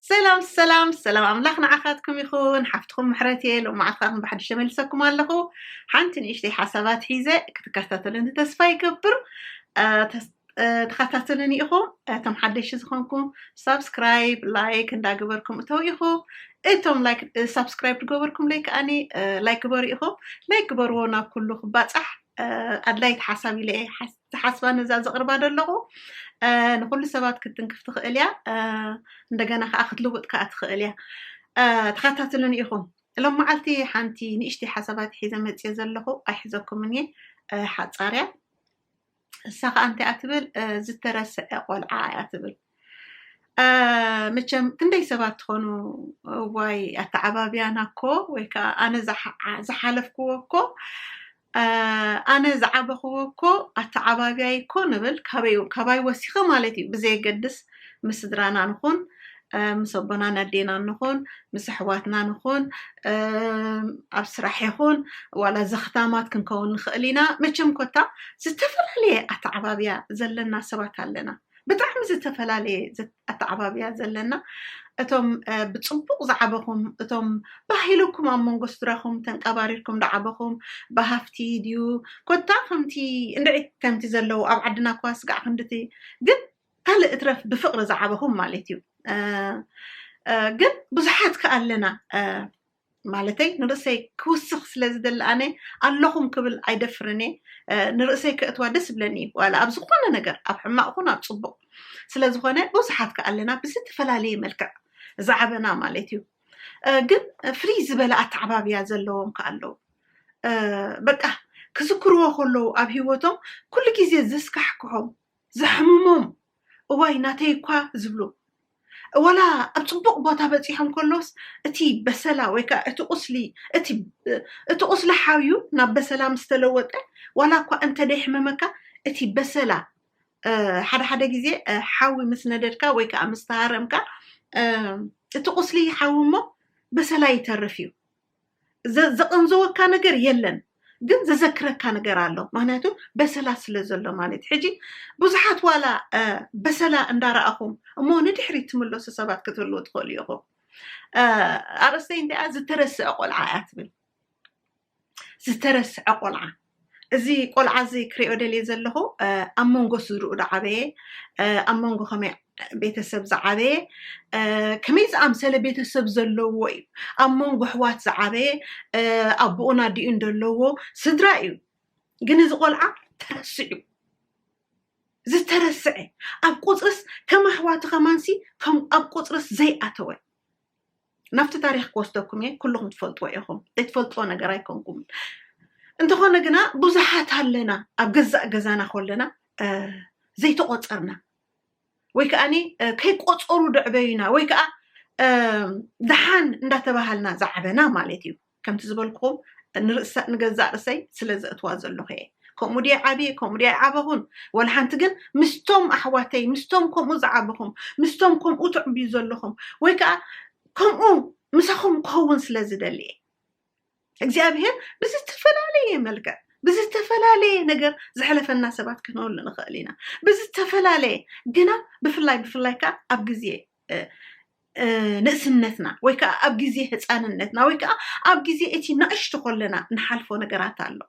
ሰላም ሰላም ሰላም ኣምላኽ ንዓኻትኩም ይኹን ሓፍትኹም ምሕረት እየ ሎም መዓልትኻትኩም ብሓድሽ ተመልሰኩም ኣለኹ ሓንቲ ንእሽተይ ሓሳባት ሒዘ ክትከታተሉኒ ተስፋ ይገብር አ፣ ተስ- አ፣ ተኸታተሉኒ ኢኹም እቶም ሓደሽቲ ዝኾንኩም ሳብስክራይብ ላይክ እንዳገበርኩም እተው ኢኹ እቶም ላይክ እ፣ ሳብስክራይብ ዝገበርኩም ለይ ከዓኒ እ፣ ላይክ ግበሩ ኢኹም ላይክ ግበርዎ ናብ ኩሉ ክባፃሕ እ፣ ኣድላይቲ ሓሳብ ኢለ እየ ሓስ- ዝሓስባ ነዛ ዘቕርባ ደለኹ ንኩሉ ሰባት ክትንክፍ ትኽእል እያ እንደገና ከዓ ክትልውጥ ከዓ ትኽእል እያ ተኸታትሉን ኢኹም እሎም መዓልቲ ሓንቲ ንእሽቲ ሓሳባት ሒዘ መፅዮ ዘለኹ ኣይሕዘኩምን እየ ሓፃርያ እሳ ከዓ እንታይ እያ ትብል ዝተረስዐ ቆልዓ እያ ትብል መቸም ክንደይ ሰባት ትኾኑ ዋይ ኣተዓባብያና እኮ ወይ ከዓ ኣነ ዝሓለፍክዎ እኮ ኣነ ዝዓበኽዎ እኮ ኣተዓባብያይ እኮ ንብል ካባይ ወሲኸ ማለት እዩ ብዘየገድስ ምስ ስድራና ንኹን ምስ ኣቦናን ኣዴናን ንኹን ምስ ኣሕዋትና ንኹን ኣብ ስራሕ ይኹን ዋላ ዘኽታማት ክንከውን ንኽእል ኢና መቸም ኮታ ዝተፈላለየ ኣተዓባብያ ዘለና ሰባት ኣለና ብጣዕሚ ዝተፈላለየ ኣተዓባብያ ዘለና እቶም ብፅቡቕ ዝዓበኹም እቶም ባህ ኢሉኩም ኣብ መንጎ ስድራኹም ተንቀባሪርኩም ዝዓበኹም ብሃፍቲ ድዩ ኮታ ከምቲ እንድዒ ከምቲ ዘለዉ ኣብ ዓድና እኳ ስጋዕ ክንድቲ ግን ካልእ እትረፍ ብፍቕሪ ዝዓበኹም ማለት እዩ ግን ብዙሓት ከ ኣለና ማለተይ ንርእሰይ ክውስኽ ስለ ዝደሊ ኣነ ኣለኹም ክብል ኣይደፍርን እየ ንርእሰይ ከእትዋ ደስ ብለኒ እዩ ዋላ ኣብ ዝኾነ ነገር ኣብ ሕማቕ ኹን ኣብ ጽቡቕ ስለ ዝኾነ ብዙሓት ከ ኣለና ብዝተፈላለየ መልክዕ ዝዓበና ማለት እዩ ግን ፍልይ ዝበለ ኣተዓባብያ ዘለዎም ከ ኣለዉ በቃ ክዝክርዎ ከለዉ ኣብ ሂወቶም ኩሉ ግዜ ዘስካሕክሖም ዘሕምሞም እዋይ ናተይ እኳ ዝብሉ ዋላ ኣብ ጽቡቕ ቦታ በጺሖም ከሎስ እቲ በሰላ ወይ ከዓ እቲ ቁስሊ እቲ እቲ ቁስሊ ሓውዩ ናብ በሰላ ምስ ተለወጠ ዋላ እኳ እንተ ደይሕመመካ እቲ በሰላ ሓደ ሓደ ግዜ ሓዊ ምስ ነደድካ ወይ ከዓ ምስ ተሃረምካ እቲ ቁስሊ ሓዊ እሞ በሰላ ይተርፍ እዩ ዘቐንዘወካ ነገር የለን ግን ዘዘክረካ ነገር ኣሎ ምክንያቱ በሰላ ስለ ዘሎ ማለት ሕጂ ብዙሓት ዋላ በሰላ እንዳረኣኹም እሞ ንድሕሪት ትምለሱ ሰባት ክትህልዎ ትኽእሉ ኢኹም ኣርእስተይ እንዲኣ ዝተረስዐ ቆልዓ እያ ትብል ዝተረስዐ ቆልዓ እዚ ቆልዓ እዚ ክሪኦ ደልየ ዘለኹ ኣብ መንጎ ስድርኡ ዝዓበየ ኣብ መንጎ ከመይ ቤተሰብ ዝዓበየ ከመይ ዝኣምሰለ ቤተሰብ ዘለዎ እዩ ኣብ መንጎ ኣሕዋት ዝዓበየ ኣቦኡን ኣዲኡን ዘለዎ ስድራ እዩ ግን እዚ ቆልዓ ተረስዑ ዝተረስዐ ኣብ ቁፅርስ ከም ኣሕዋቱ ከማንሲ ከም ኣብ ቁፅርስ ዘይኣተወ ናብቲ ታሪኽ ክወስደኩም እየ ኩልኹም ትፈልጥዎ ኢኹም ዘይትፈልጥዎ ነገር ኣይኮንኩምን እንተኾነ ግና ብዙሓት ኣለና ኣብ ገዛእ ገዛና ከለና ዘይተቆፀርና ወይ ከዓኒ ከይቆፀሩ ደዕበዩና ወይ ከዓ ደሓን እንዳተባሃልና ዝዓበና ማለት እዩ ከምቲ ዝበልኩኹም ንርእሰ ንገዛእ ርእሰይ ስለ ዘእትዋ ዘለኹ እየ። ከምኡ ድየ ዓብየ ከምኡ ድየ ኣይዓበኹን ወላ ሓንቲ ግን ምስቶም ኣሕዋተይ ምስቶም ከምኡ ዝዓበኹም ምስቶም ከምኡ ትዕብዩ ዘለኹም ወይ ከዓ ከምኡ ምሳኹም ክኸውን ስለ ዝደሊ እየ እግዚኣብሄር ብዝተፈላለየ መልክዕ ብዝተፈላለየ ነገር ዝሕለፈና ሰባት ክንህሉ ንኽእል ኢና ብዝተፈላለየ ግና ብፍላይ ብፍላይ ከዓ ኣብ ግዜ ንእስነትና ወይ ከዓ ኣብ ግዜ ህፃንነትና ወይ ከዓ ኣብ ግዜ እቲ ንእሽቶ ኮለና ንሓልፎ ነገራት ኣሎ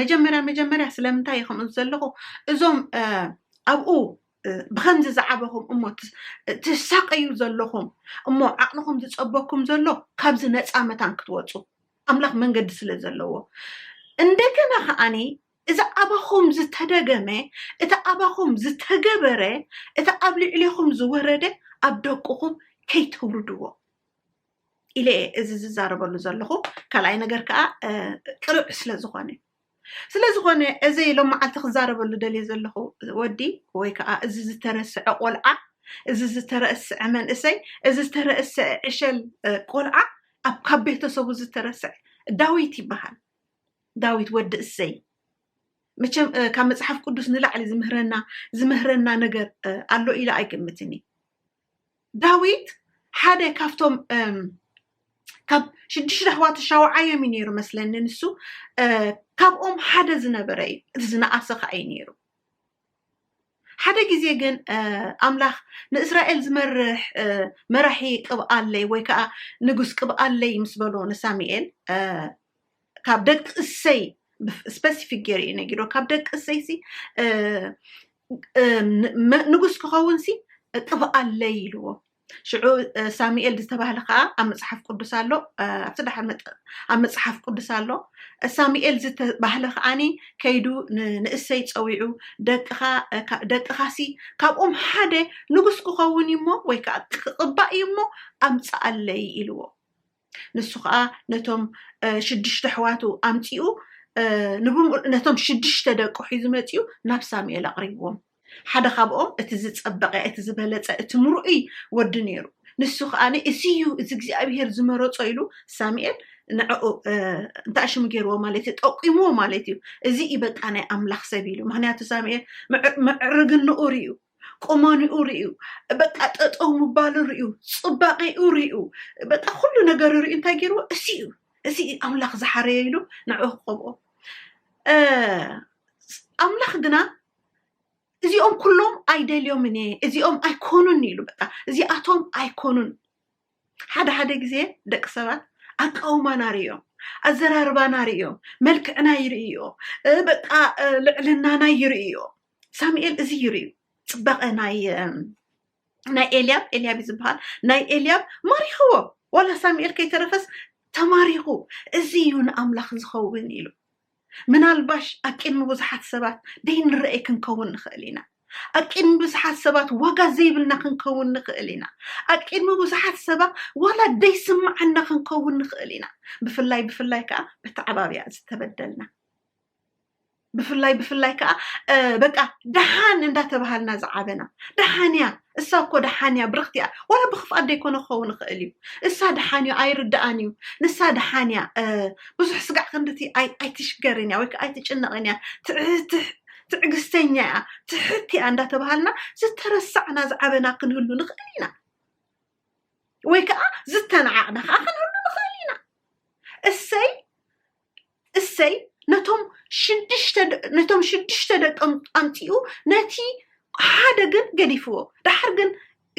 መጀመርያ መጀመርያ ስለምንታይ እዩ ከምኡ ዘለኹ እዞም ኣብኡ ብከምዚ ዝዓበኹም እሞ ትሳቀዩ ዘለኹም እሞ ዓቕልኹም ዝፀበኩም ዘሎ ካብዚ ነፃ መታን ክትወፁ ኣምላኽ መንገዲ ስለ ዘለዎ እንደገና ከዓኒ እዚ ኣባኹም ዝተደገመ፣ እቲ ኣባኹም ዝተገበረ፣ እቲ ኣብ ልዕሌኹም ዝወረደ ኣብ ደቁኹም ከይተውርድዎ ኢለ እየ እዚ ዝዛረበሉ ዘለኹ። ካልኣይ ነገር ከዓ ቅርብ ስለ ዝኾነ ስለ ዝኾነ እዚ ሎም መዓልቲ ክዛረበሉ ደልየ ዘለኹ ወዲ ወይ ከዓ እዚ ዝተረስዐ ቆልዓ እዚ ዝተረስዐ መንእሰይ እዚ ዝተረስዐ ዕሸል ቆልዓ ኣብ ካብ ቤተሰቡ ዝተረስዐ ዳዊት ይበሃል። ዳዊት ወዲ እሰይ መቸም ካብ መፅሓፍ ቅዱስ ንላዕሊ ዝምህረና ዝምህረና ነገር ኣሎ ኢለ ኣይገምትን እዩ ዳዊት ሓደ ካብቶም ካብ ሽዱሽተ ኣሕዋት ሻውዓዮም እዩ ነይሩ መስለኒ ንሱ ካብኦም ሓደ ዝነበረ እዩ እቲ ዝነኣሰ ከዓ እዩ ነይሩ ሓደ ግዜ ግን ኣምላኽ ንእስራኤል ዝመርሕ መራሒ ቅብኣለይ ወይ ከዓ ንጉስ ቅብኣለይ ምስ በሎ ንሳሙኤል ካብ ደቂ እሰይ ስፐሲፊክ ገይሩ እዩ ነጊሮ ካብ ደቂ እሰይ ሲ ንጉስ ክኸውን ሲ ቅብኣለይ ኢልዎ ሽዑ ሳሙኤል ዝተባህለ ከዓ ኣብ መፅሓፍ ቅዱስ ኣሎ ኣብቲ ድሓር ኣብ መፅሓፍ ቅዱስ ኣሎ ሳሙኤል ዝተባህለ ከዓኒ ከይዱ ንእሰይ ፀዊዑ ደቅኻ ደቅኻሲ ካብኦም ሓደ ንጉስ ክኸውን እዩ እሞ ወይ ከዓ ክቕባእ እዩ እሞ ኣምፀኣለይ ኢልዎ ንሱ ከዓ ነቶም ሽዱሽተ ኣሕዋቱ ኣምፂኡ ንብምሉ ነቶም ሽዱሽተ ደቁ ሒዙ መፂኡ ናብ ሳሙኤል ኣቕሪብዎም ሓደ ካብኦም እቲ ዝፀበቐ እቲ ዝበለፀ እቲ ምርኡይ ወዲ ነይሩ ንሱ ከዓ እዚ እዩ እዚ እግዚኣብሄር ዝመረፆ ኢሉ ሳሙኤል ንዕኡ እንታይ ሽሙ ገይርዎ ማለት እዩ ጠቂምዎ ማለት እዩ እዚ እዩ በቃ ናይ ኣምላኽ ሰብ ኢሉ ምክንያቱ ሳሙኤል ምዕርግንኡ ርዩ ቁመንኡ ርእዩ በቃ ጠጠው ምባሉ ርእዩ ፅባቄኡ ርእዩ በቃ ኩሉ ነገር ርእዩ እንታይ ገይርዎ እዚ እዩ እዚ እዩ ኣምላኽ ዝሓረየ ኢሉ ንዕኡ ክቐብኦ እ፣ ኣምላኽ ግና እዚኦም ኩሎም ኣይደልዮምን እየ እዚኦም ኣይኮኑን ኢሉ በቃ እዚኣቶም ኣይኮኑን ሓደ ሓደ ግዜ ደቂ ሰባት ኣቃውማና ርእዮም ኣዘራርባና ርእዮም መልክዕና ይርእዮ በቃ ልዕልናና ይርእዮ ሳሙኤል እዚ ይርእዩ ፅባቐ ናይ ናይ ኤልያብ ኤልያብ እዩ ዝበሃል ናይ ኤልያብ ማሪኽዎ ዋላ ሳሙኤል ከይተረፈስ ተማሪኹ እዚ እዩ ንኣምላኽ ዝኸውን ኢሉ ምናልባሽ ኣብ ቅድሚ ብዙሓት ሰባት ደይንረኤ ክንከውን ንኽእል ኢና። ኣብ ቅድሚ ብዙሓት ሰባት ዋጋ ዘይብልና ክንከውን ንኽእል ኢና። ኣብ ቅድሚ ብዙሓት ሰባት ዋላ ደይስምዓና ክንከውን ንኽእል ኢና። ብፍላይ ብፍላይ ከዓ በተዓባብያ ዝተበደልና ብፍላይ ብፍላይ ከዓ በቃ ደሓን እንዳተባሃልና ዝዓበና ደሓን እያ እሳ እኮ ደሓን እያ ብርኽቲ እያ ዋላ ብክፍኣት ዘይኮነ ክኸውን ይኽእል እዩ እሳ ደሓን እዩ ኣይርድኣን እዩ ንሳ ደሓን እያ ብዙሕ ስጋዕ ክንድቲ ኣይትሽገርን እያ ወይ ከዓ ኣይትጭነቕን እያ ትዕግስተኛ እያ ትሕት እያ እንዳተባሃልና ዝተረሳዕና ዝዓበና ክንህሉ ንኽእል ኢና ወይ ከዓ ዝተናዓቕና ከዓ ክንህሉ ንኽእል ኢና እሰይ እሰይ ነቶም ሽዱሽተ ነቶም ሽዱሽተ ደቆም ኣምጺኡ ነቲ ሓደ ግን ገዲፍዎ ደሓር ግን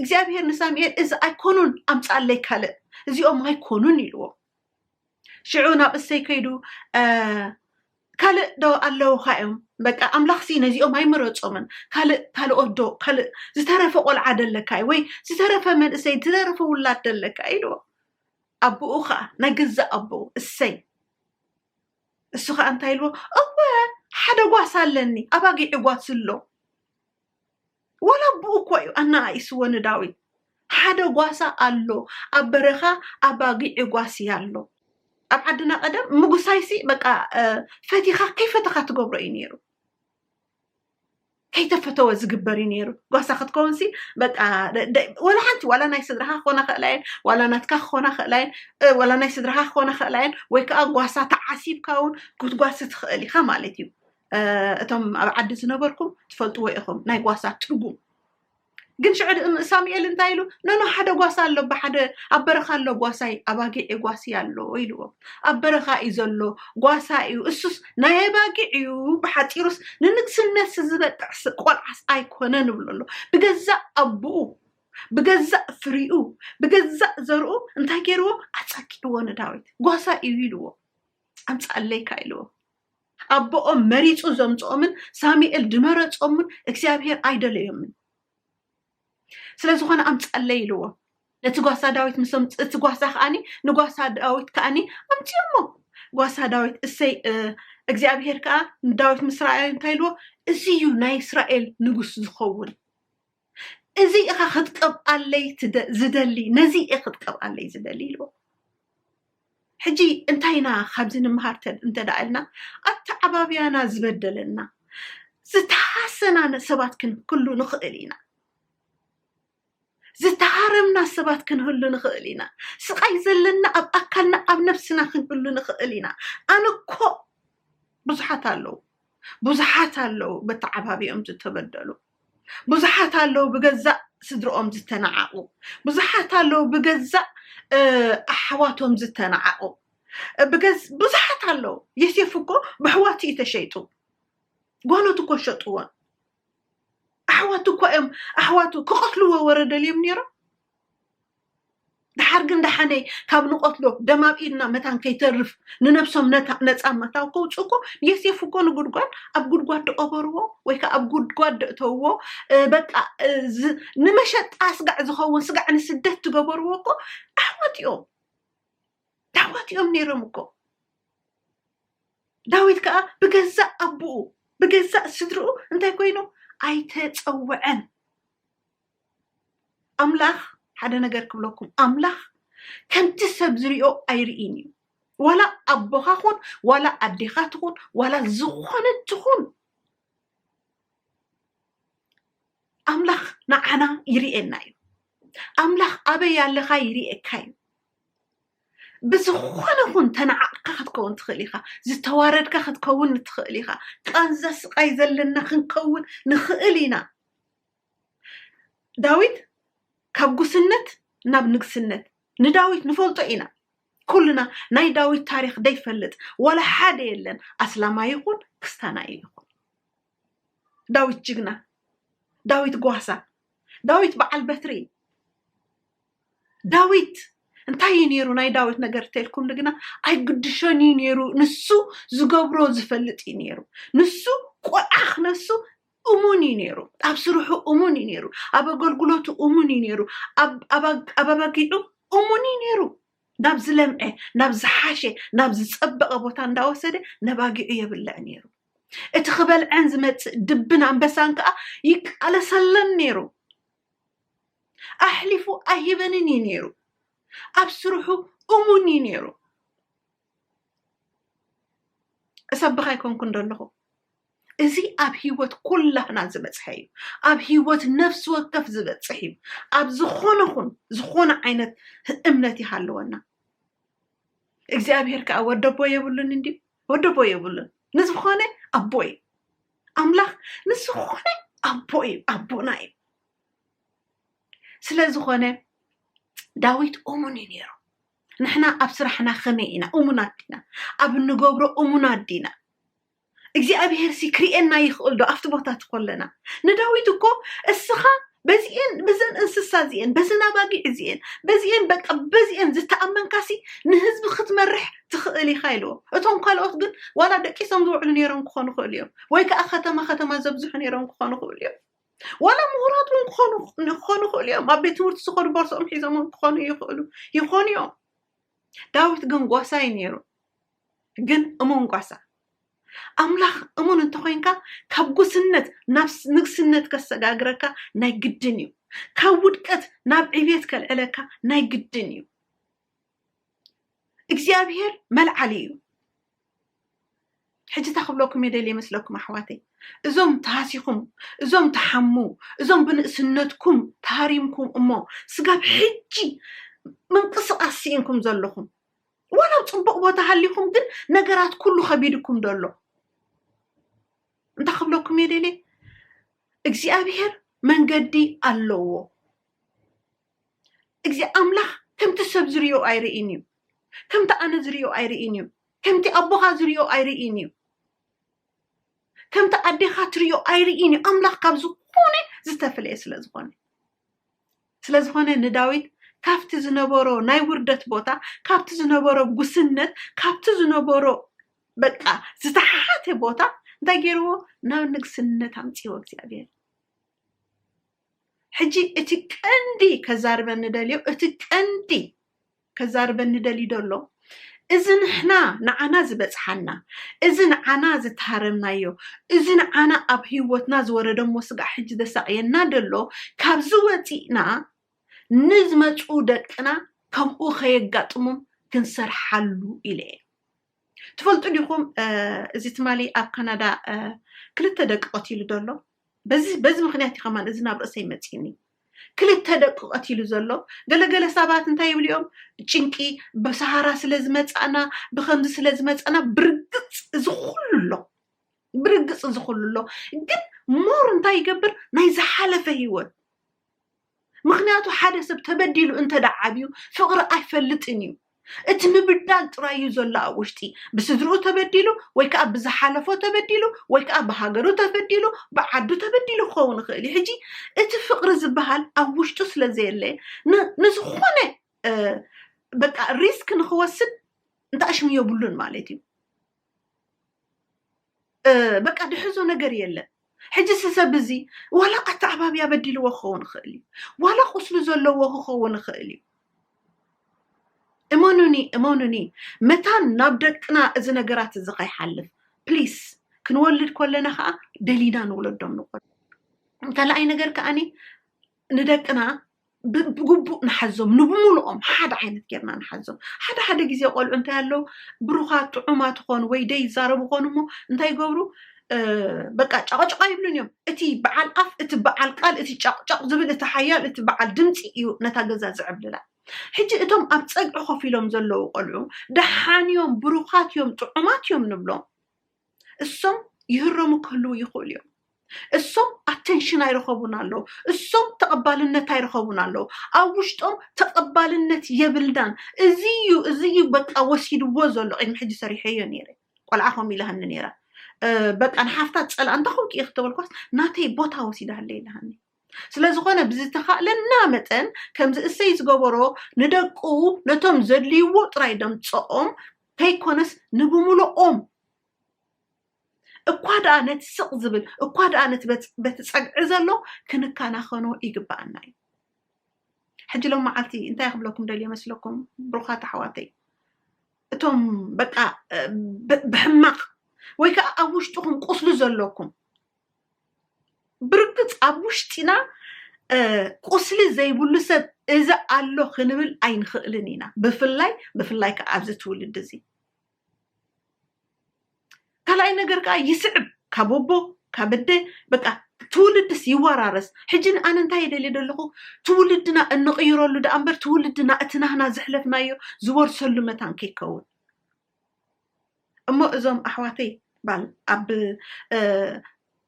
እግዚኣብሄር ንሳሙኤል እዚ ኣይኮኑን ኣምጻለይ ካልእ እዚኦም ኣይኮኑን ኢልዎ ሽዑ ናብ እሰይ ከይዱ ካልእ ዶ ኣለውካ እዮም በቃ ኣምላኽ ሲ ነዚኦም ኣይመረፆምን ካልእ ካልኦት ዶ ካልእ ዝተረፈ ቆልዓ ደለካ እዩ ወይ ዝተረፈ መንእሰይ ዝተረፈ ውላድ ደለካ ኢልዎ ኣቡኡ ኸኣ ናይ ገዛእ ኣቦኡ እሰይ እሱ ኸኣ እንታይ ኢልዎ እወ ሓደ ጓስ ኣለኒ ኣባጊዕ ጓስ እሎ ዋላ ኣቡኡ እኮ እዩ ኣናኣኢስዎ ንዳዊት ሓደ ጓሳ ኣሎ ኣብ በረኻ ኣባጊዕ ጓስ እያ ኣሎ ኣብ ዓድና ቀደም ምጉሳይሲ በቃ ፈቲኻ ከይፈተኻ ትገብሮ እዩ ነይሩ ከይተፈተወ ዝግበር እዩ ነይሩ ጓሳ ክትከውንሲ በቃ ወላ ሓንቲ ዋላ ናይ ስድራኻ ክኾና ክእላ እየን ዋላ ናትካ ክኾና ክእላ እየን ዋላ ናይ ስድራኻ ክኾና ክእላ እየን ወይ ከዓ ጓሳ ተዓሲብካ እውን ክትጓሲ ትኽእል ኢኻ ማለት እዩ እቶም ኣብ ዓዲ ዝነበርኩም ትፈልጥዎ ኢኹም ናይ ጓሳ ትርጉም ግን ሽዑ ሳሙኤል እንታይ ኢሉ ነኖ ሓደ ጓሳ ኣሎ ብሓደ ኣብ በረኻ ኣሎ ጓሳይ ኣባጊዕ ጓሲ ኣሎ ኢልዎ ኣብ በረኻ እዩ ዘሎ ጓሳ እዩ እሱስ ናይ ኣባጊዕ እዩ ብሓፂሩስ ንንግስነት ዝበቅዕ ቆልዓስ ኣይኮነ ንብሎ ኣሎ ብገዛእ ኣቦኡ ብገዛእ ፍሪኡ ብገዛእ ዘርኡ እንታይ ገይርዎ ኣፀኪዕዎ ንዳዊት ጓሳ እዩ ኢልዎ ኣምፃኣለይካ ኢልዎ ኣቦኦም መሪጹ ዘምጽኦምን ሳሙኤል ድመረጾምን እግዚኣብሄር ኣይደለዮምን ስለ ዝኾነ ኣምጸለይ ኢልዎ ነቲ ጓሳ ዳዊት ምስ ኣምፅ- እቲ ጓሳ ከዓኒ ንጓሳ ዳዊት ከዓኒ ኣምፅኦሞ ጓሳ ዳዊት እሰይ እ፣ እግዚኣብሄር ከዓ ንዳዊት ምስ ረኣዮ እንታይ ኢልዎ እዚ እዩ ናይ እስራኤል ንጉስ ዝኸውን እዚ ኢኻ ክትቀብኣለይ ዝደሊ ነዚ እየ ክትቀብኣለይ ዝደሊ ኢልዎ ሕጂ እንታይ ኢና ካብዚ ንምሃር እንተ ደኣ ኢልና ኣተዓባብያና ዝበደለና ዝተሃሰና ሰባት ክንክሉ ንኽእል ኢና ዝተሃረምና ሰባት ክንህሉ ንኽእል ኢና ስቓይ ዘለና ኣብ ኣካልና ኣብ ነፍስና ክንህሉ ንኽእል ኢና ኣነ እኮ ብዙሓት ኣለዉ ብዙሓት ኣለዉ በተዓባቢኦም ዝተበደሉ ብዙሓት ኣለዉ ብገዛእ ስድርኦም ዝተናዓቑ፣ ብዙሓት ኣለዉ ብገዛእ ኣሕዋቶም ዝተናዓቑ፣ ብዙሓት ኣለዉ። የሴፍ እኮ ብሕዋቱ እዩ ተሸይጡ፣ ጓኖት እኮ ሸጥዎን ኣሕዋቱ እኳ እዮም ኣሕዋቱ ክቐትልዎ ወረደልዮም ነይሮም። ደሓር ግን ደሓነ ካብ ንቐትሎ ደም ኣብ ኢድና መታን ከይተርፍ ንነብሶም ነፃ መታው ከውፅኡ እኮ የሴፍ እኮ ንጉድጓድ ኣብ ጉድጓድ ደቐበርዎ ወይ ከዓ ኣብ ጉድጓድ ደእተውዎ በቃ ንመሸጣ ስጋዕ ዝኸውን ስጋዕ ንስደት ትገበርዎ እኮ ኣሕዋት እዮም ኣሕዋት እዮም ነይሮም እኮ ዳዊት ከዓ ብገዛእ ኣቦኡ ብገዛእ ስድርኡ እንታይ ኮይኑ ኣይተፀወዐን ኣምላኽ ሓደ ነገር ክብለኩም ኣምላኽ ከምቲ ሰብ ዝሪኦ ኣይርኢን እዩ ዋላ ኣቦኻ ኹን ዋላ ኣዴኻ ትኹን ዋላ ዝኾነ ትኹን ኣምላኽ ንዓና ይርኤና እዩ ኣምላኽ ኣበይ ኣለኻ ይርኤካ እዩ ብዝኾነ ኹን ተነዓቕካ ክትከውን ትኽእል ኢኻ ዝተዋረድካ ክትከውን ንትኽእል ኢኻ ቃንዛ ስቃይ ዘለና ክንከውን ንኽእል ኢና ዳዊት ካብ ጉስነት ናብ ንግስነት ንዳዊት ንፈልጦ ኢና ኩልና ናይ ዳዊት ታሪክ ደይፈልጥ ዋላ ሓደ የለን ኣስላማይ ይኹን ክስታናይ ይኹን ዳዊት ጅግና ዳዊት ጓሳ ዳዊት በዓል በትሪ ዳዊት እንታይ እዩ ነይሩ ናይ ዳዊት ነገር ተልኩም ንግና ኣይግድሾን እዩ ነይሩ ንሱ ዝገብሮ ዝፈልጥ እዩ ነይሩ ንሱ ቆልዓ ክነሱ እሙን እዩ ነይሩ ኣብ ስርሑ እሙን እዩ ነይሩ ኣብ ኣገልግሎቱ እሙን እዩ ነይሩ ኣብ- ኣብ ኣግ- ኣብ ኣባጊዑ እሙን እዩ ነይሩ ናብ ዝለምዐ ናብ ዝሓሸ ናብ ዝፀበቐ ቦታ እንዳወሰደ ነባጊዑ የብልዕ ነይሩ እቲ ክበልዐን ዝመፅእ ድብን ኣንበሳን ከዓ ይቃለሰለን ነይሩ ኣሕሊፉ ኣይህበንን እዩ ነይሩ ኣብ ስርሑ እሙን እዩ ነይሩ እሰብኽ ኣይኮንኩን ዘለኹ እዚ ኣብ ሂወት ኩላህና ዝበፅሐ እዩ ኣብ ሂወት ነፍሲ ወከፍ ዝበፅሕ እዩ ኣብ ዝኾነ ኹን ዝኾነ ዓይነት እምነት ይሃለወና እግዚኣብሄር ከዓ ወደቦ የብሉን እንዲ ወደቦ የብሉን ንዝኾነ ኣቦ እዩ ኣምላኽ ንዝኾነ ኣቦ እዩ ኣቦና እዩ ስለ ዝኾነ ዳዊት እሙን እዩ ነይሩ ንሕና ኣብ ስራሕና ከመይ ኢና እሙናት ዲና ኣብ እንገብሮ እሙናት ዲና እግዚኣብሄርሲ ክርእየና ይኽእል ዶ ኣብቲ ቦታ እቲ ኮለና ንዳዊት እኮ እስኻ በዚኤን ብዘን እንስሳ እዚኤን በዘን ኣባጊዕ እዚኤን በዚኤን በቃ በዚኤን ዝተኣመንካሲ ንህዝቢ ክትመርሕ ትኽእል ኢኻ ኢልዎ እቶም ካልኦት ግን ዋላ ደቂሶም ዝውዕሉ ነይሮም ክኾኑ ይኽእሉ እዮም ወይ ከዓ ከተማ ከተማ ዘብዝሑ ነይሮም ክኾኑ ይኽእሉ እዮም ዋላ ምሁራት እውን ክኾኑ ክኾኑ ይኽእሉ እዮም ኣብ ቤት ትምህርቲ ዝኸዱ ቦርሶኦም ሒዞም እውን ክኾኑ ይኽእሉ ይኾኑ እዮም ዳዊት ግን ጓሳ እዩ ነይሩ ግን እሙን ጓሳ ኣምላኽ እሙን እንተኮይንካ ካብ ጉስነት ናብ ንግስነት ከሰጋግረካ ናይ ግድን እዩ ካብ ውድቀት ናብ ዕብየት ከልዕለካ ናይ ግድን እዩ እግዚኣብሄር መልዓሊ እዩ ሕጂ እንታይ ክብለኩም እየ ደልየ መስለኩም ኣሕዋተይ እዞም ተሃሲኹም እዞም ተሓሙ እዞም ብንእስነትኩም ተሃሪምኩም እሞ ስጋብ ሕጂ ምንቅስቓስ ስኢንኩም ዘለኹም ዋላ ኣብ ፅቡቕ ቦታ ሃሊኹም ግን ነገራት ኩሉ ከቢድኩም ደሎ እንታይ ክብለኩም እየ ደልየ እግዚኣብሄር መንገዲ ኣለዎ እግዚ ኣምላኽ ከምቲ ሰብ ዝርእዮ ኣይርእን እዩ፣ ከምቲ ኣነ ዝርእዮ ኣይርእን እዩ፣ ከምቲ ኣቦኻ ዝርእዮ ኣይርእን እዩ፣ ከምቲ ኣዴኻ ትርእዮ ኣይርእን እዩ፣ ኣምላኽ ካብ ዝኾነ ዝተፍለየ ስለ ዝኾነ ስለ ዝኾነ ንዳዊት ካብቲ ዝነበሮ ናይ ውርደት ቦታ ካብቲ ዝነበሮ ጉስነት ካብቲ ዝነበሮ በቃ ዝተሓሓተ ቦታ እንታይ ገይርዎ ናብ ንግስነት ኣምፅዎ እግዚኣብሔር ሕጂ እቲ ቀንዲ ከዛርበኒ ደልዮ እቲ ቀንዲ ከዛርበኒ ደልዩ ደሎ እዚ ንሕና ንዓና ዝበጽሓና እዚ ንዓና ዝተሃረምናዮ እዚ ንዓና ኣብ ህይወትና ዝወረደሞ ስጋዕ ሕጂ ዘሳቕየና ደሎ ካብዚ ወጺእና ንዝመጹ ደቅና ከምኡ ከየጋጥሞም ክንሰርሓሉ ኢለ እየ። ትፈልጡ ዲኹም እዚ ትማሊ ኣብ ካናዳ ክልተ ደቂ ቀቲሉ ዘሎ በዚ በዚ ምክንያት እዩ ከማን እዚ ናብ ርእሰይ መፂኒ ክልተ ደቂ ቀቲሉ ዘሎ ገለገለ ሰባት እንታይ ይብሉ እዮም ጭንቂ ብሰሃራ ስለ ዝመፃእና ብከምዚ ስለ ዝመፃእና ብርግፅ እዚ ኩሉ ኣሎ ብርግፅ እዚ ኩሉ ኣሎ ግን ሞር እንታይ ይገብር ናይ ዝሓለፈ ሂወት ምኽንያቱ ሓደ ሰብ ተበዲሉ እንተ ደኣ ዓብዩ ፍቕሪ ኣይፈልጥን እዩ። እቲ ምብዳል ጥራይ እዩ ዘሎ ኣብ ውሽጢ። ብስድርኡ ተበዲሉ ወይ ከኣ ብዝሓለፎ ተበዲሉ ወይ ከኣ ብሃገሩ ተበዲሉ ብዓዱ ተበዲሉ ክኸውን ይኽእል እዩ። ሕጂ እቲ ፍቕሪ ዝበሃል ኣብ ውሽጡ ስለ ዘየለ ን ንዝኾነ በቃ ሪስክ ንኽወስድ እንተኣሽሙ የብሉን ማለት እዩ። በቃ ድሕዞ ነገር የለን ሕጂ ስሰብ እዚ ዋላ ኣተዓባብያ በዲልዎ ክኸውን ይኽእል እዩ ዋላ ቁስሉ ዘለዎ ክኸውን ይኽእል እዩ እመኑኒ እመኑኒ መታን ናብ ደቅና እዚ ነገራት እዚ ከይሓልፍ ፕሊስ ክንወልድ ኮለና ከዓ ደሊና ንወለዶም ንኮ ካልኣይ ነገር ከዓኒ ንደቅና ብግቡእ ንሓዞም ንብሙሉኦም ሓደ ዓይነት ጌርና ንሓዞም ሓደ ሓደ ግዜ ቆልዑ እንታይ ኣለዉ ብሩኻት ጥዑማት ኾኑ ወይ ደይ ይዛረቡ ኾኑ እሞ እንታይ ይገብሩ በቃ ጫቕጫቕ ይብሉን እዮም እቲ በዓል ኣፍ እቲ በዓል ቃል እቲ ጫቕጫቕ ዝብል እቲ ሓያል እቲ በዓል ድምፂ እዩ ነታ ገዛ ዝዕብልላ ሕጂ እቶም ኣብ ፀግዒ ኮፍ ኢሎም ዘለዉ ቆልዑ ደሓን እዮም ብሩኻት እዮም ጥዑማት እዮም ንብሎም እሶም ይህረሙ ክህልው ይኽእሉ እዮም። እሶም ኣተንሽን ኣይረኸቡን ኣለዉ። እሶም ተቐባልነት ኣይረኸቡን ኣለዉ። ኣብ ውሽጦም ተቐባልነት የብልናን እዚ እዩ እዚ እዩ በቃ ወሲድዎ ዘሎ ቅድሚ ሕጂ ሰሪሐዮ ነይረ ቆልዓ ከምኡ ኢላሃኒ ነይራ በቃ ንሓፍታ ፀላ እንተኸውቂ እየ ክተበልኳስ ናተይ ቦታ ወሲዳሃለ ኢላሃኒ ስለዝኾነ ብዝተኻእለና መጠን ከምዚ እሰይ ዝገበሮ ንደቁ ነቶም ዘድልይዎ ጥራይ ደምፀኦም ከይኮነስ ንብሙሉኦም እኳ ደኣ ነቲ ስቕ ዝብል እኳ ደኣ ነቲ በቲ ፀግዒ ዘሎ ክንከናኸኖ ይግበኣና እዩ ሕጂ ሎም መዓልቲ እንታይ ክብለኩም ደልየ መስለኩም ብሩኻት ኣሕዋተይ እቶም በቃ ብሕማቕ ወይ ከዓ ኣብ ውሽጥኹም ቁስሊ ዘለኩም ብርግፅ ኣብ ውሽጢና ቁስሊ ዘይብሉ ሰብ እዚ ኣሎ ክንብል ኣይንኽእልን ኢና ብፍላይ ብፍላይ ከዓ ኣብዚ ትውልድ እዚ ካልኣይ ነገር ከዓ ይስዕብ ካብ ኣቦ ካብ ኣደ በቃ ትውልድስ ይወራረስ ሕጂ ኣነ እንታይ ይደልየ ደለኹ ትውልድና እንቕይረሉ ደኣ እምበር ትውልድና እቲ ናህና ዘሕለፍናዮ ዝወርሰሉ መታን ከይከውን እሞ እዞም ኣሕዋተይ ባል ኣብ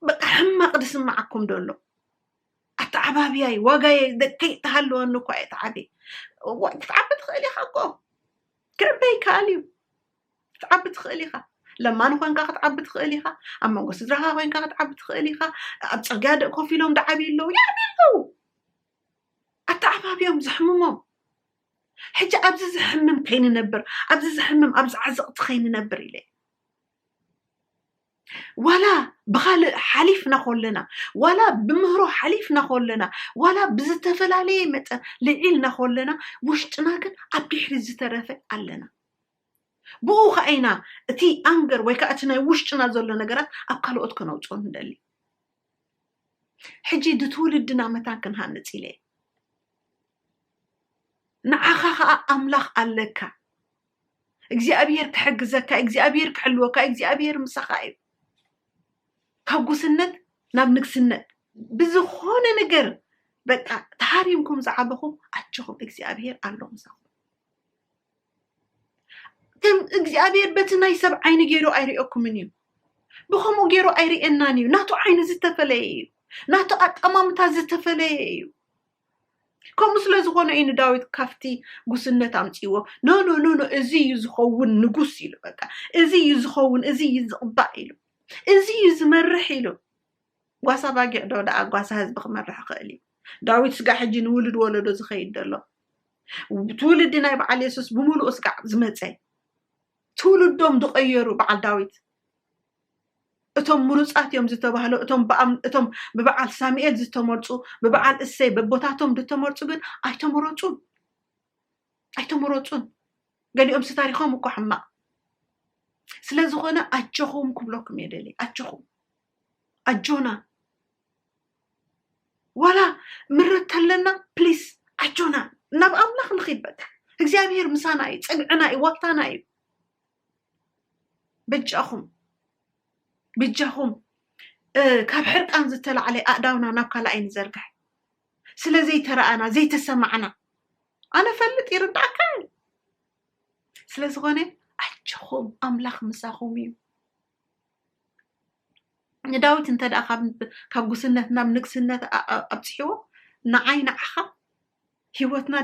በቃ ሕማቕ ዝስማዓኩም ዶ ኣሎ ኣተዓባብያይ ዋጋየ ከይተሃለወኒ እኳ እየ ተዓብየ ክትዓቢ ትኽእል ኢኻ እኮ ክዕበ ይከኣል እዩ ክትዓቢ ትኽእል ኢኻ ለማኒ ኮንካ ክትዓቢ ትኽእል ኢኻ ኣብ መንጎ ስድራኻ ኮንካ ክትዓቢ ትኽእል ኢኻ ኣብ ፅርግያ ደቂ ኮፍ ኢሎም ዝዓብዩ ኣለዉ ይዓብዩ ኣለዉ ኣተዓባብዮም ዘሕምሞም ሕጂ ኣብዚ ዝሕምም ከይንነብር ኣብዚ ዝሕምም ኣብዚ ዓዘቕቲ ከይንነብር ኢለ ዋላ ብካልእ ሓሊፍና ኮለና ዋላ ብምህሮ ሓሊፍና ኮለና ዋላ ብዝተፈላለየ መጠን ልዒልና ኮለና ውሽጥና ግን ኣብ ድሕሪ ዝተረፈ ኣለና ብኡ ከዓ ኢና እቲ ኣንገር ወይ ከዓ እቲ ናይ ውሽጥና ዘሎ ነገራት ኣብ ካልኦት ከነውፅኦ ንደሊ ሕጂ ንትውልድና መታን ክንሃንጽ ኢለ ንዓኻ ኸኣ ኣምላኽ ኣለካ እግዚኣብሄር ክሕግዘካ እግዚኣብሄር ክሕልወካ እግዚኣብሄር ምሳኻ እዩ ካብ ጉስነት ናብ ንግስነት ብዝኾነ ነገር በቃ ተሃሪምኩም ዝዓበኹም ኣጆኹም እግዚኣብሄር ኣሎ ምሳኹም ከም እግዚኣብሔር በቲ ናይ ሰብ ዓይኒ ገይሩ ኣይርእየኩምን እዩ ብከምኡ ገይሩ ኣይርእየናን እዩ ናቱ ዓይኒ ዝተፈለየ እዩ ናቱ ኣጠማምታ ዝተፈለየ እዩ ከምኡ ስለ ዝኾነ እዩ ንዳዊት ካብቲ ጉስነት ኣምፅዎ ኖ ኖ ኖ ኖ እዚ እዩ ዝኸውን ንጉስ ኢሉ በቃ እዚ እዩ ዝኸውን እዚ እዩ ዝቕባእ ኢሉ እዚ እዩ ዝመርሕ ኢሉ ጓሳ ባጊዕ ዶ ደኣ ጓሳ ህዝቢ ክመርሕ ይኽእል እዩ ዳዊት ስጋ ሕጂ ንውሉድ ወለዶ ዝኸይድ ዘሎ ትውልዲ ናይ በዓል የሱስ ብምሉኡ ስጋዕ ዝመፀ ትውልዶም ዝቐየሩ በዓል ዳዊት እቶም ምሩፃት እዮም ዝተባህሉ እቶም ብበዓል ሳሙኤል ዝተመርፁ ብበዓል እሰይ በቦታቶም ዝተመርፁ ግን ኣይተመረፁን ኣይተመረፁን ገሊኦምሲ ታሪኾም እኮ ሕማቕ ስለ ዝኾነ ኣጆኹም ክብለኩም እየ ደሊ ኣጆኹም ኣጆና ዋላ ምረት ተለና ፕሊስ ኣጆና ናብ ኣምላኽ ንኺድ በቃ እግዚኣብሔር ምሳና እዩ ፅግዕና እዩ ዋልታና እዩ በጃኹም ብጃኹም ካብ ሕርቃን ዝተላዕለ ኣእዳውና ናብ ካልኣይ ንዘርግሕ ስለ ዘይተረኣና ዘይተሰማዕና ኣነ ፈልጥ ይርዳእካ ስለ ዝኾነ ኣጆኹም ኣምላኽ ምሳኹም እዩ ንዳዊት እንተ ደኣ ካብ ጉስነት ናብ ንግስነት ኣብጽሕዎ ንዓይ ንዓኻ ህይወትና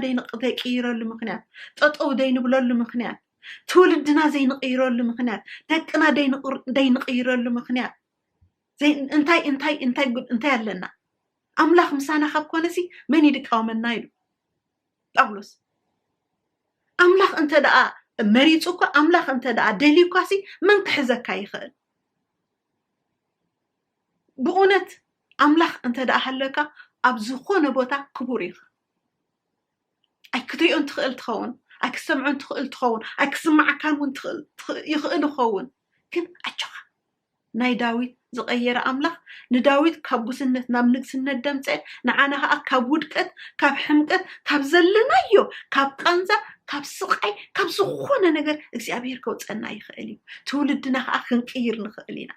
ዘይቅይረሉ ምክንያት ጠጠው ዘይንብለሉ ምክንያት ትውልድና ዘይንቅይረሉ ምክንያት ደቅና ዘይንቅይረሉ ምክንያት እንታይ እንታይ እንታይ እንታይ ኣለና ኣምላኽ ምሳና ካብ ኮነ ሲ መን ይድቃወመና ኢሉ ጳውሎስ ኣምላኽ እንተ ደኣ መሪፁ እኳ ኣምላኽ እንተ ደኣ ደልዩ እኳ ሲ መን ክሕዘካ ይኽእል ብእውነት ኣምላኽ እንተ ደኣ ሃለካ ኣብ ዝኾነ ቦታ ክቡር ኢኻ ኣይክትሪኦን ትኽእል ትኸውን ኣይክሰምዖን ትኽእል ትኸውን ኣይክስማዓካን እውን ይኽእል ይኸውን ግን ኣጆኻ ናይ ዳዊት ዝቐየረ ኣምላኽ ንዳዊት ካብ ጉስነት ናብ ንግስነት ደምፀ ንዓና ከዓ ካብ ውድቀት ካብ ሕምቀት ካብ ዘለናዮ ካብ ቃንዛ ካብ ስቓይ ካብ ዝኾነ ነገር እግዚኣብሄር ከውፀና ይኽእል እዩ ትውልድና ከዓ ክንቅይር ንኽእል ኢና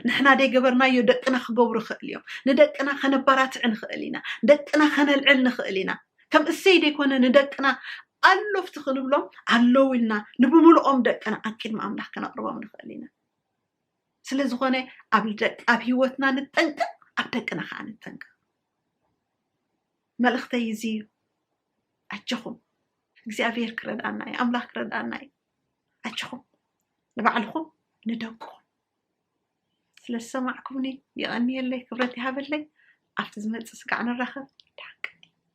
ንሕና ደይገበርናዮ ደቅና ክገብሩ ይኽእል እዮም ንደቅና ከነባራትዕ ንኽእል ኢና ደቅና ከነልዕል ንኽእል ኢና ከም እሰይ ደይኮነ ንደቅና ኣሎፍቲ ክንብሎም ኣለዉ ኢልና ንብምልኦም ደቅና ኣብ ቅድሚ ኣምላኽ ከነቕርቦም ንኽእል ኢና ስለ ዝኾነ ኣብ ደቅ ኣብ ሂወትና ንጠንቀቕ ኣብ ደቅና ከዓ ንጠንቀቕ መልእኽተይ እዚ እዩ ኣጆኹም እግዚኣብሔር ክረድኣና እዩ ኣምላኽ ክረድኣና እዩ ኣጆኹም ንባዕልኹም ንደቁኹም ስለ ዝሰማዕኩምኒ የቐንየለይ ክብረት ይሃበለይ ኣብቲ ዝመፅእ ስጋዕ ንራኸብ